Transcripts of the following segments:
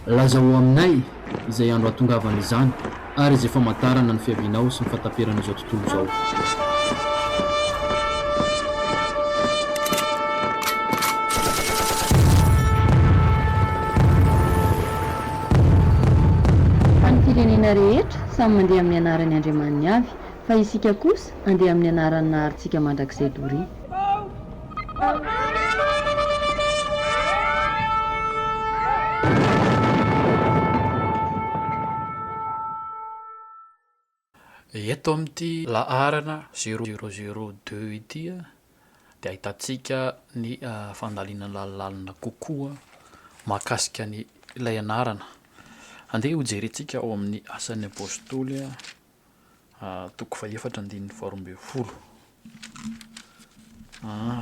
Lazao aminay izay andro hahatongavan' izany, ary izay famantarana ny fiavianao sy ny fahataperan' izao tontolo izao. Fa ny firenena rehetra samy mandeha amin' ny anaran' Andriamaniny avy, Fa isika kosa andeha amin'ny anaran'ny Naharintsika Mandrakizay doria. Eto amin'ity laharana zéro zéro deux ity dia ahitantsika ny fandalinana lalilalina kokoa mahakasika an'ilay anarana. Andeha hojerentsika ao amin'ny Asan'ny Apostoly toko fahefatra andininy faharoa ambin'ny folo.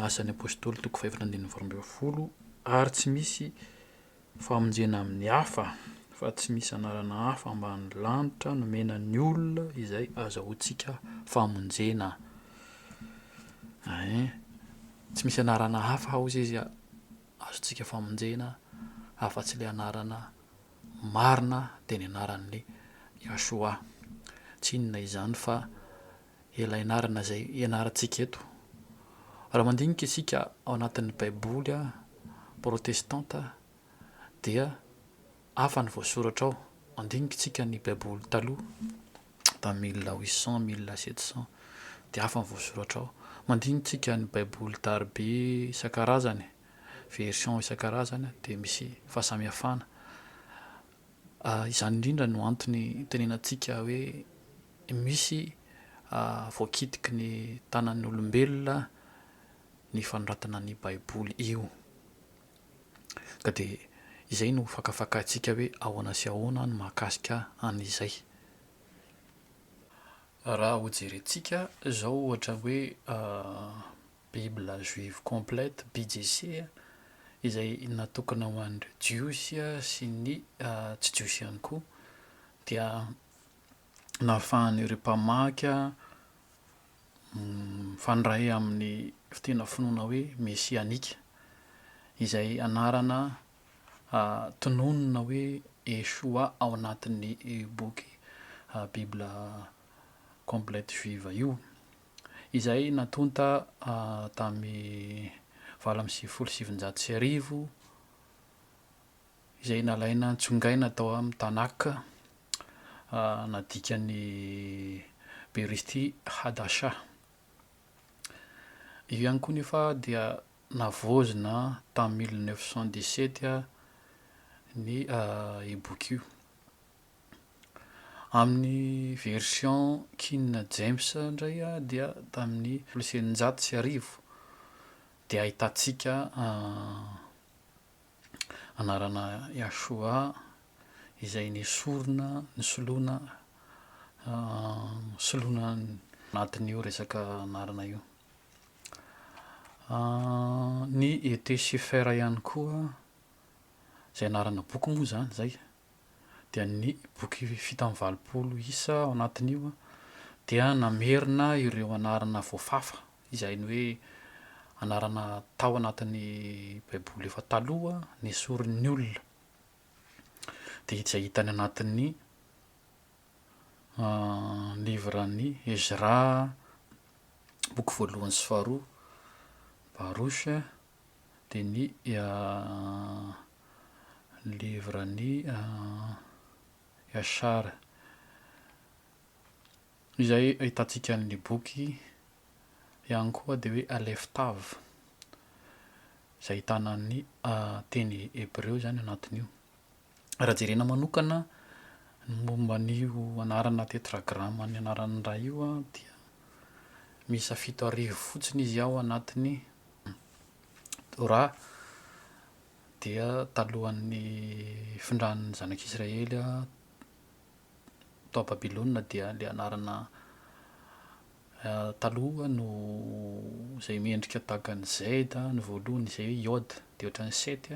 Asan'ny Apôstôly toko fahefatra andininy faharoa ambin'ny folo, ary tsy misy famonjena amin'ny hafa, fa tsy misy anarana hafa ambanin'ny lanitra nomena ny olona izay azahoantsika famonjena. Ein, tsy misy anarana hafa hozy izy azontsika famonjena afa-tsy ilay anarana marina dia ny anaran'i Yahshua. Tsy inona izany fa ilay anarana izay ianarantsika eto. Raha mandinika isika ao anatin'ny Baiboly protestanta dia hafa ny voasoratra ao. Mandinika isika ny Baiboly taloha tamin'ny mille huit cent, mille sept cent dia hafa ny voasoratra ao. Mandinika isika ny Baiboly darabe isan-karazany. version isan-karazany dia misy fahasamihafana. Izany indrindra no antony hitenenantsika hoe misy voakitiky ny tanan'ny olombelona ny fanoratana ny Baiboly io. Ka dia izay no hofakafakaintsika hoe ahoana sy ahoana ny mahakasika an'izay. Raha hojerentsika izao ohatra hoe Bible juive complète, BJC, izay natokana ho an'ireo Jiosy sy ny tsy Jiosy ihany koa, dia nahafahan'ireo mpamaky mifandray amin'ny tena finoana hoe mesianika, izay anarana tononina hoe Yeshua ao anatin'ny boky Bible complète juive io. izay natonta tamin'ny valo amby sivifolo sy sivinjato sy arivo, izay nalaina nitsongaina tao amin'ny Tanakh, nadikan'i Berishti Hadashah. Io ihany koa nefa dia navaozina tamin'ny mille neuf cent dix-sept ny boky io. Amin'ny version King James indray dia tamin'ny folo sy eninjato sy arivo dia ahitantsika anarana Yahshua izay nesorina, nosoloina, nosoloina anatin'io resaka anarana io. Ny Ete Sefer ihany koa, izay anarana boky moa izany izay. dia ny boky fito amby valopolo isa ao anatin'io dia namerina ireo anarana voafafa, izay ny hoe anarana tao anatin'ny Baiboly efa taloha nesorin'ny olona. Dia izay hita any anatin'ny livran'i Ezra, boky voalohany sy faharoa, Baroche. dia ny livre ny Yashar izay ahitantsika ny boky ihany koa dia hoe Aleph Tav izay ahitana ny teny hebreo izany anatin'io. raha jerena manokana ny momba an'io anarana tetragrama ny anaran'ny rà io an dia miisa fito arivo fotsiny izy ao anatin'ny Torah dia talohan'ny findran'ny zanak'Israely tao Babylona dia le anarana taloha no zay miendrika tahaka ny Z no voalohany izay hoe Yod dia ohatran'ny Set.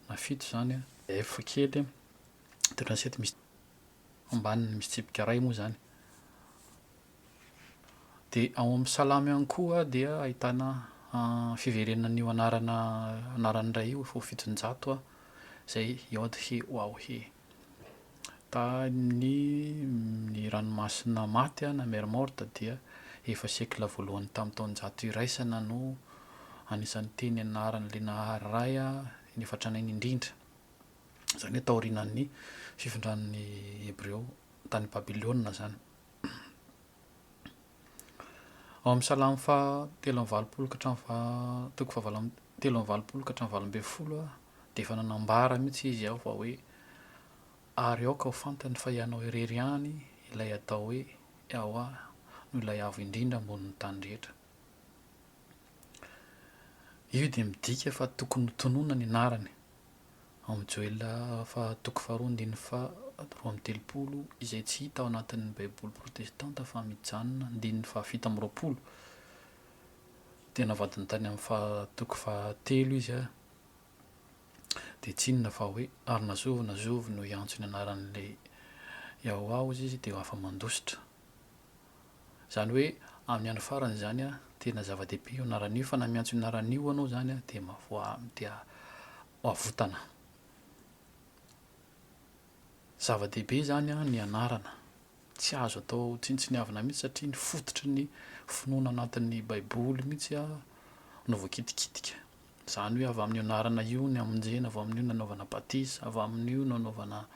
na fito izany an. F kely an, mitondra ny sety misy ambaniny misy tsipika iray moa izany. Dia ao amin'ny salamo ihany koa dia ahitana fiverenan'io anarana anaran'ny iray io, fo fitonjato an, izay Yod He Waw He. Tamin' ny Ranomasina Maty na Mer Morte dia efa siekla voalohany tamin'ny taonjato iraisana no anisan'ny teny anaran' ilay Nahary Ray ny efa tranainy indrindra, izany hoe taorianan'ny fifindran' ny Hebreo tany Babilôna izany. Ao amin'ny Salamo faha telo amby valopolo ka hatramin'ny faha toko fahavalo amby telo amby valopolo ka hatramin'ny valo ambin'ny folo aho dia efa nanambara mihitsy izy aho fa hoe ary aoka ho fantany fa ianao irery ihany ilay atao hoe Yawah no ilay avo indrindra ambonin'ny tany rehetra. Io dia midika fa tokony ho tononina ny anarany. Ao Joela faha toko faharoa andininy faha roa amby telopolo, izay tsy hita ao anatin' ny Baiboly protestanta fa mijanona andininy faha fito amby roapolo, dia navadina tany amin' ny faha toko faha telo izy ary dia tsy inona fa hoe, Ary na zovy na zovy no hiantso ny anaran' ilay Iaoaozy izy dia ho afa-mandositra. Zany hoe amin'ny andro farany izany an, tena zava-dehibe io anarana io fa na miantso io anarana io anao izany an dia mavoa dia avotana. Zava-dehibe izany an ny anarana, tsy azo atao tsinontsiniavina mihitsy satria ny fototry ny finoana anatin'ny baiboly mihitsy an no voakitikitika. Zany hoe avy amin'io anarana io ny hamonjena, avy amin'io ny nanaovana batisa, avy amin'io no anaovana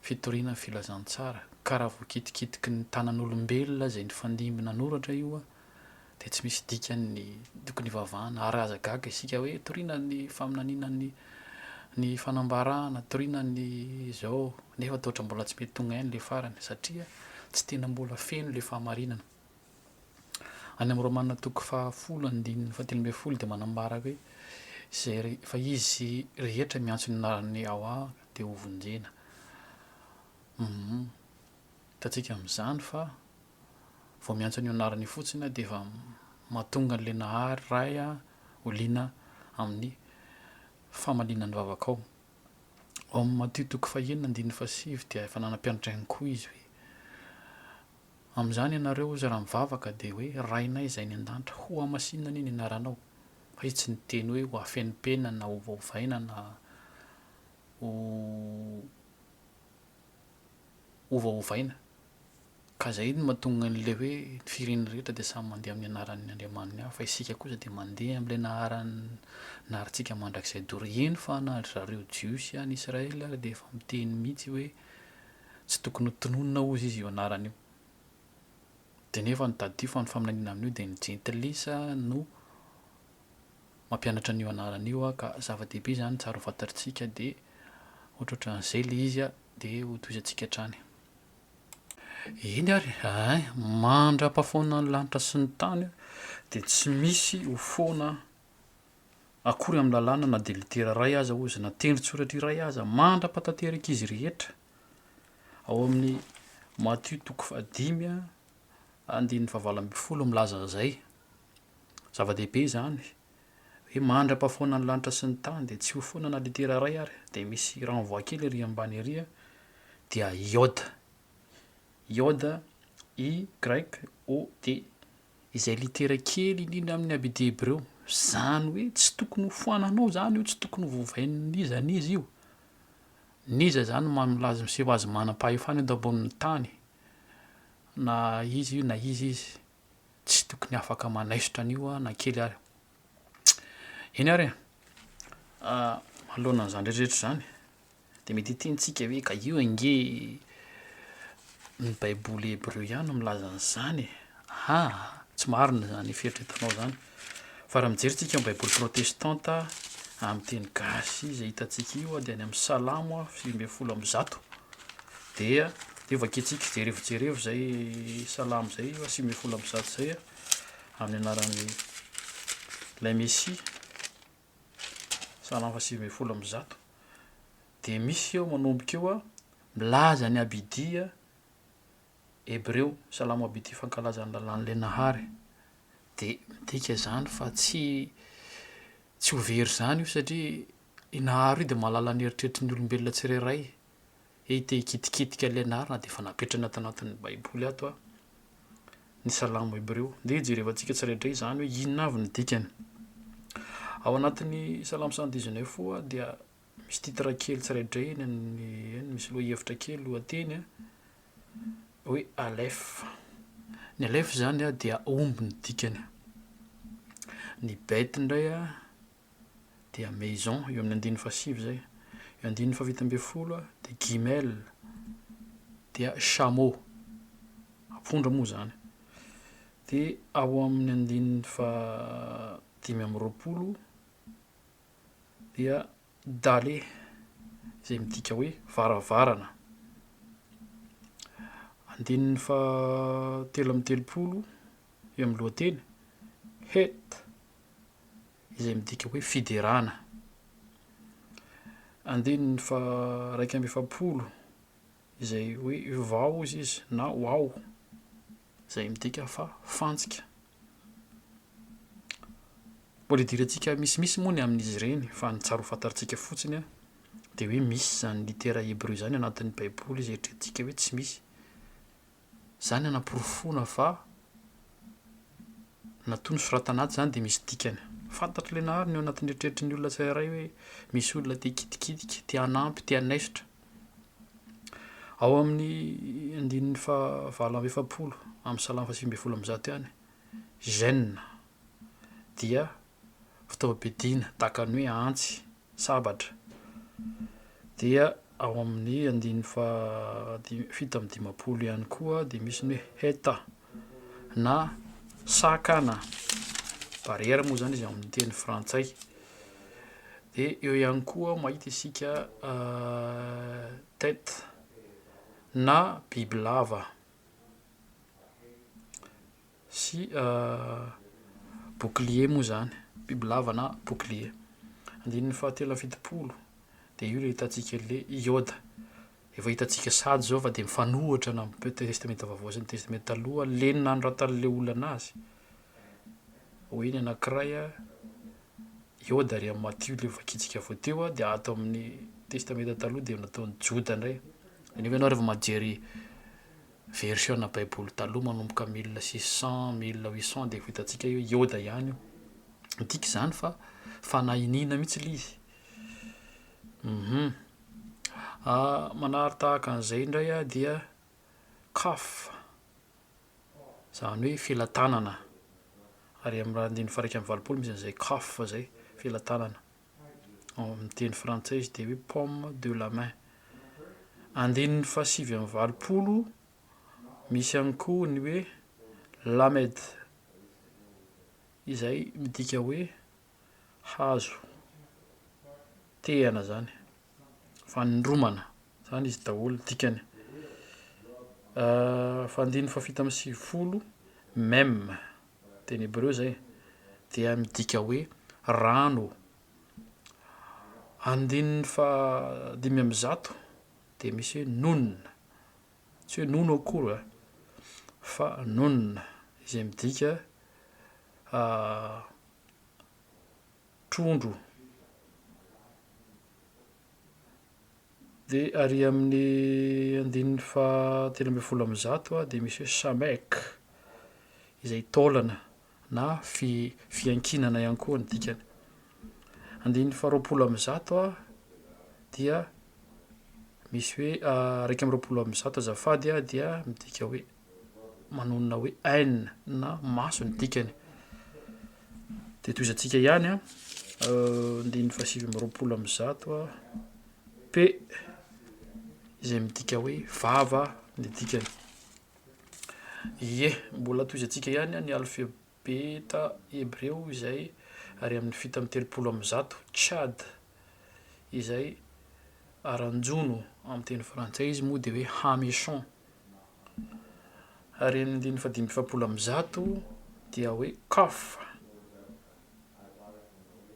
fitoriana ny filazantsara, ka raha voakitikitiky ny tanan'olombelona izay nifandimby nanoratra io dia tsy misy dikany ny tokony hivavahana, ary aza gaga isika hoe toriana ny faminaniana ny ny fanambarana, toriana ny izao, nefa toa ohatran'ny mbola tsy mety tonga haino ilay farany, satria tsy tena mbola feno ilay fahamarinana. Any amin'ny Romana toko fahafolo andininy fahatelo ambin'ny folo dia manambara hoe, izay re- fa izy rehetra miantso ny anaran'i Yawah dia ho vonjena. Humm. Hitantsika amin'izany fa vao miantso an'io anarana io fotsiny aho dia efa mahatonga an'ilay Nahary Ray ho liana amin'ny famaliana ny vavakao. Ao amin'ny Matio toko fahenina andininy fahasivy dia efa nanampianatra ihany koa Izy hoe, Amin'izany ianareo, hozy, raha mivavaka dia hoe, Rainay izay any an-danitra, hohamasinina anie ny anaranao. Fa Izy tsy niteny hoe hohafenimpenina na hovaovaina na ho ovaovaina. Ka izay no mahatonga an'ilay hoe ny firenena rehetra dia samy mandeha amin'ny anaran'ny andriamaniny avy fa isika kosa dia mandeha amin'ilay naharan'ny naharintsika mandrakizay doro. Eny fa na ry zareo Jiosy any Israely ary dia efa miteny mihitsy hoe tsy tokony ho tononina hozy izy io anarana io. Dia nefa ny tadidio fa ny faminaniana amin'io dia ny jentilisa no mampianatra an'io anarana io aho ka zava-dehibe izany tsara ho fantatritsika dia ohatrohatran'izay ilay izy dia ho tohizantsika hatrany. Eny ary, ay, mandra-pahafoanan'ny lanitra sy ny tany aho dia tsy misy ho foana akory amin'ny lalàna na dia litera iray aza hozy na tendrin-tsoratra iray aza mandra-pahatanterak'izy rehetra ao amin'ny Matio toko fahadimy andininy fahavalo ambin'ny folo milaza an'izay. Zava-dehibe izany. Hoe mandra-pahafoana ny lanitra sy ny tany dia tsy ho foana na litera iray ary dia misy renvoi kely ery ambany ery a, dia iode. Iode, i y o d. Izay litera kely indrindra amin'ny abd hebreo. Izany hoe tsy tokony ho foananao izany io, tsy tokony ho vovain'iza n'iza io. N'iza izany ma- milaza miseho azy manam-pahefana eto ambonin'ny tany. Na iza io na iza izy. tsy tokony afaka manaisotra an'io aho na kely ary. Eny ary e, manoloana an'izany rehetrarehetra izany dia mety hitentsika hoe ka io ange ny baiboly hebreo ihany no milaza an'izany e, aa tsy marina izany fieritreretanao izany. Fa raha mijery tsika ny baiboly protestanta amin'ny teny gasy izay hitantsika io dia any amin'ny salamo sivy ambin'ny folo amby zato dia io vakintsika jerevo jerevo zay salamo zay io sivy ambin'ny folo amby zato zay amin'ny anaran'ny lay mesia salamo fa sivy ambin'ny folo amby zato dia misy eo manomboka eo a milaza ny abidia Hebreo, Salamo aby ity fankalaza ny lalàn'ilay Nahary. Dia midika izany fa tsy tsy ho very izany io satria i Nahary io dia mahalala ny eritreritry ny olombelona tsirairay. Hey, te hikitikitika an'ilay Nahary na dia efa napetrana ato anatin'ny Baiboly ato aho. Ny Salamo hebreo. Dia jerevantsika tsirairay izany hoe inona avy ny dikany. Ao anatin'ny Salamo cent dix neuf koa dia Misy titre kely tsiraidray eny amin'ny eny, misy lohahevitra kely, lohateny a, hoe Aleph. Ny Aleph izany a dia omby ny dikany. Ny Beit indray a dia maison, eo amin'ny andininy fahasivy izay. Ny andininy fahavita ambin'ny folo a dia Gimel, dia chameau, ampondra moa izany. Dia ao amin'ny andininy faha dimy amby roapolo, dia dale izay midika hoe varavarana. Andininy fahatelo amby telopolo eo amin'ny lohateny, het izay midika hoe fiderana. Andininy faharaika amby efapolo izay hoe vao hoy izy na wao izay midika fa fantsika. Polidirantsika misimisy moa ny amin'izy ireny, fa ny tsara ho fantatr'tsika fotsiny dia hoe misy izany litera hebreo izany anatin'ny baiboly izay eritreretintsika hoe tsy misy. Izany hanaporofoana fa na toa nosoratana atsy izany dia misy dikany. Fantatr'ilay nahary ny ao anatin'ny eritreritry ny olona tsirairay hoe misy olona te-hikitikitika, te-hanampy, te-hanaisotra. Ao amin'ny andininy faha valo amby efapolo amin'ny salamo faha sivy ambin'ny folo amby zato ihany, Gen. Dia fitaovam-piadiana tahaka ny hoe antsy, sabatra. Dia ao amin'ny andininy faha dimy fito amby dimampolo ihany koa dia misy ny hoe heta. na sac na barrière moa zany izy amin'ny teny frantsay. Dia eo ihany koa mahita isika tête na bibilava sy bouclier moa zany, bibilava na bouclier. Andininy fahatelo amby fitopolo dia io le hitantsika le iode. Efa hitantsika sady izao fa dia mifanohitra ny amin'ny Testamenta Vaovao sy ny Testamenta Taloha, lenona hanoratan'ilay olona azy. Hoy ny anankiray, Ioda ary amin'i Matio ilay voakitika avy eo teo, dia ato amin'ny Testamenta Taloha dia nataon'i Joda indray. Izany hoe ianao rehefa majery version-na Baiboly taloha manomboka mille six cent, mille huit cent dia efa hitantsika hoe Ioda ihany io. Midika izany fa fanahy iniana mihitsy ilay izy. Manary tahaka an'izay indray aho dia kaf, izany hoe felatanana. Ary amin'ny raha andininy faha iraika amby valopolo misy an'izay kaf izay, felatanana. Ao amin'ny teny frantsay izy dia hoe paume de la main. Andininy faha sivy amby valopolo misy ihany koa ny hoe lamed, izay midika hoe. hazo tehana zany, fanindromana zany izy daholo ny dikany. Fa andininy fahafito amby sivifolo, mem, teny hebreo izay, dia midika hoe rano. Andininy faha dimy amby zato dia misy hoe nun, tsy hoe nono akory an, fa nun izay midika trondro dia ary amin'ny andininy faha telo ambin'ny folo amby zato dia misy hoe samek izay taolana na fi- fiankinana ihany koa ny dikany. Andininy faha roapolo amby zato dia misy hoe iraika amby roapolo amby zato azafady dia midika hoe manonona hoe aine na maso ny dikany. Dia tohizantsika ihany an, euh, ndininy fahasivy amby roapolo amby zato a, p izay midika hoe vava ny dikany. Ie, mbola tohizantsika ihany an, ny alphe Beta hebreo izay ary amin'ny fitany telopolo amin'ny zato, Chad, izay aranjono amin'ny teny frantsay izy moa dia hoe hameçon, ary amin'ny andininy fahadimy amby efapolo amin'ny zato dia hoe qaf,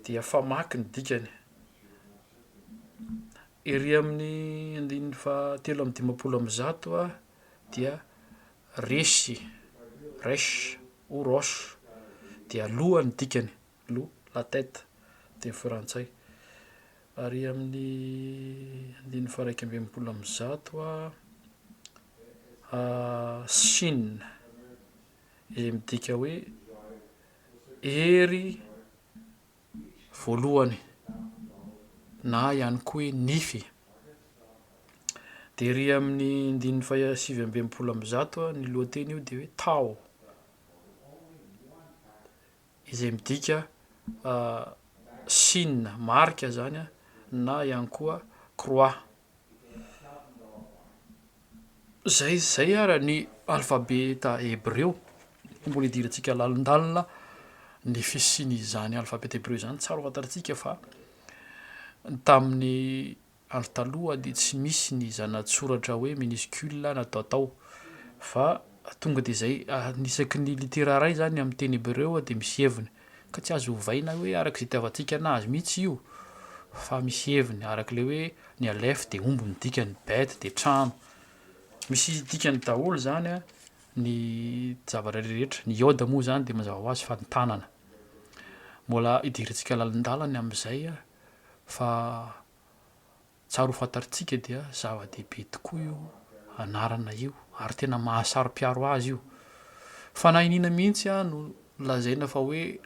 dia famaky ny dikany. Ery amin'ny andininy fahatelo amby dimampolo amin'ny zato dia Resy, Resh, ou Rosh, dia loha ny dikany, loha, la tête, teny frantsay. Ary amin'ny andininy faharaika amby enimpolo amby zato Shin, izay midika hoe hery. voalohany na ihany koa hoe nify. Dia ery amin'ny andininy faha sivy amby enimpolo amby zato ny lohateny io dia hoe taho, izay midika signe, marika, izany na ihany koa croix. Izay izay ary ny alfabeta hebreo. Mbola hidirantsika lalindalina ny fisian'izany alfabeta hebreo izany. Tsara ho fantatsika fa tamin'ny andro taloha dia tsy misy ny zana-tsoratra hoe minuscule natao tao fa Tonga dia izay, ny isaky ny litera iray izany amin'ny teny hebreo dia misy heviny, ka tsy azo ovaina hoe araka izay itiavantsika anazy mihitsy io, fa misy heviny, araka ilay hoe ny aleph dia omby ny dikany, bet dia trano. Misy dikany daholo izany ny zavatra rehetra, ny yod moa izany dia mazava ho azy fa ny tanana. Mbola hidirantsika lalindalany amin'izay fa Tsara ho fantarintsika dia zava-dehibe tokoa io anarana io ary tena mahasaro-piaro azy io. Fanahy iniana mihitsy aho no lazaina fa hoe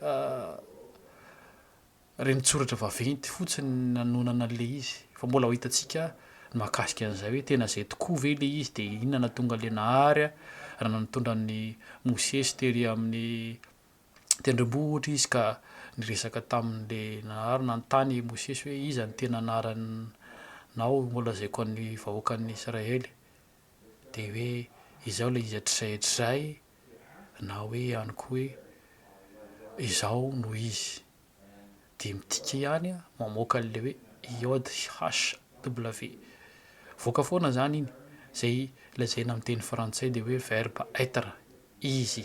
renintsoratra vaventy fotsiny ny nanonana an'ilay izy. Fa mbola ho hitantsika ny mahakasika an'izay hoe tena izay tokoa ve ilay izy dia inona no nahatonga an'ilay Nahary raha nitondra an'i Mosesy tery amin'ny tendrombohitra izy ka niresaka tamin'le Nanary nanontany i Mosesy hoe iza ny tena anaranao holazaiko an'ny vahoakan'ny Israely? Dia hoe izao ilay izy hatrizay hatrizay na hoe ihany koa hoe izaho no izy. dia midika ihany mamoaka an'ilay hoe JHW. Voaka foana izany iny, izay lazaina amin'ny teny frantsay dia hoe verbe être, izy.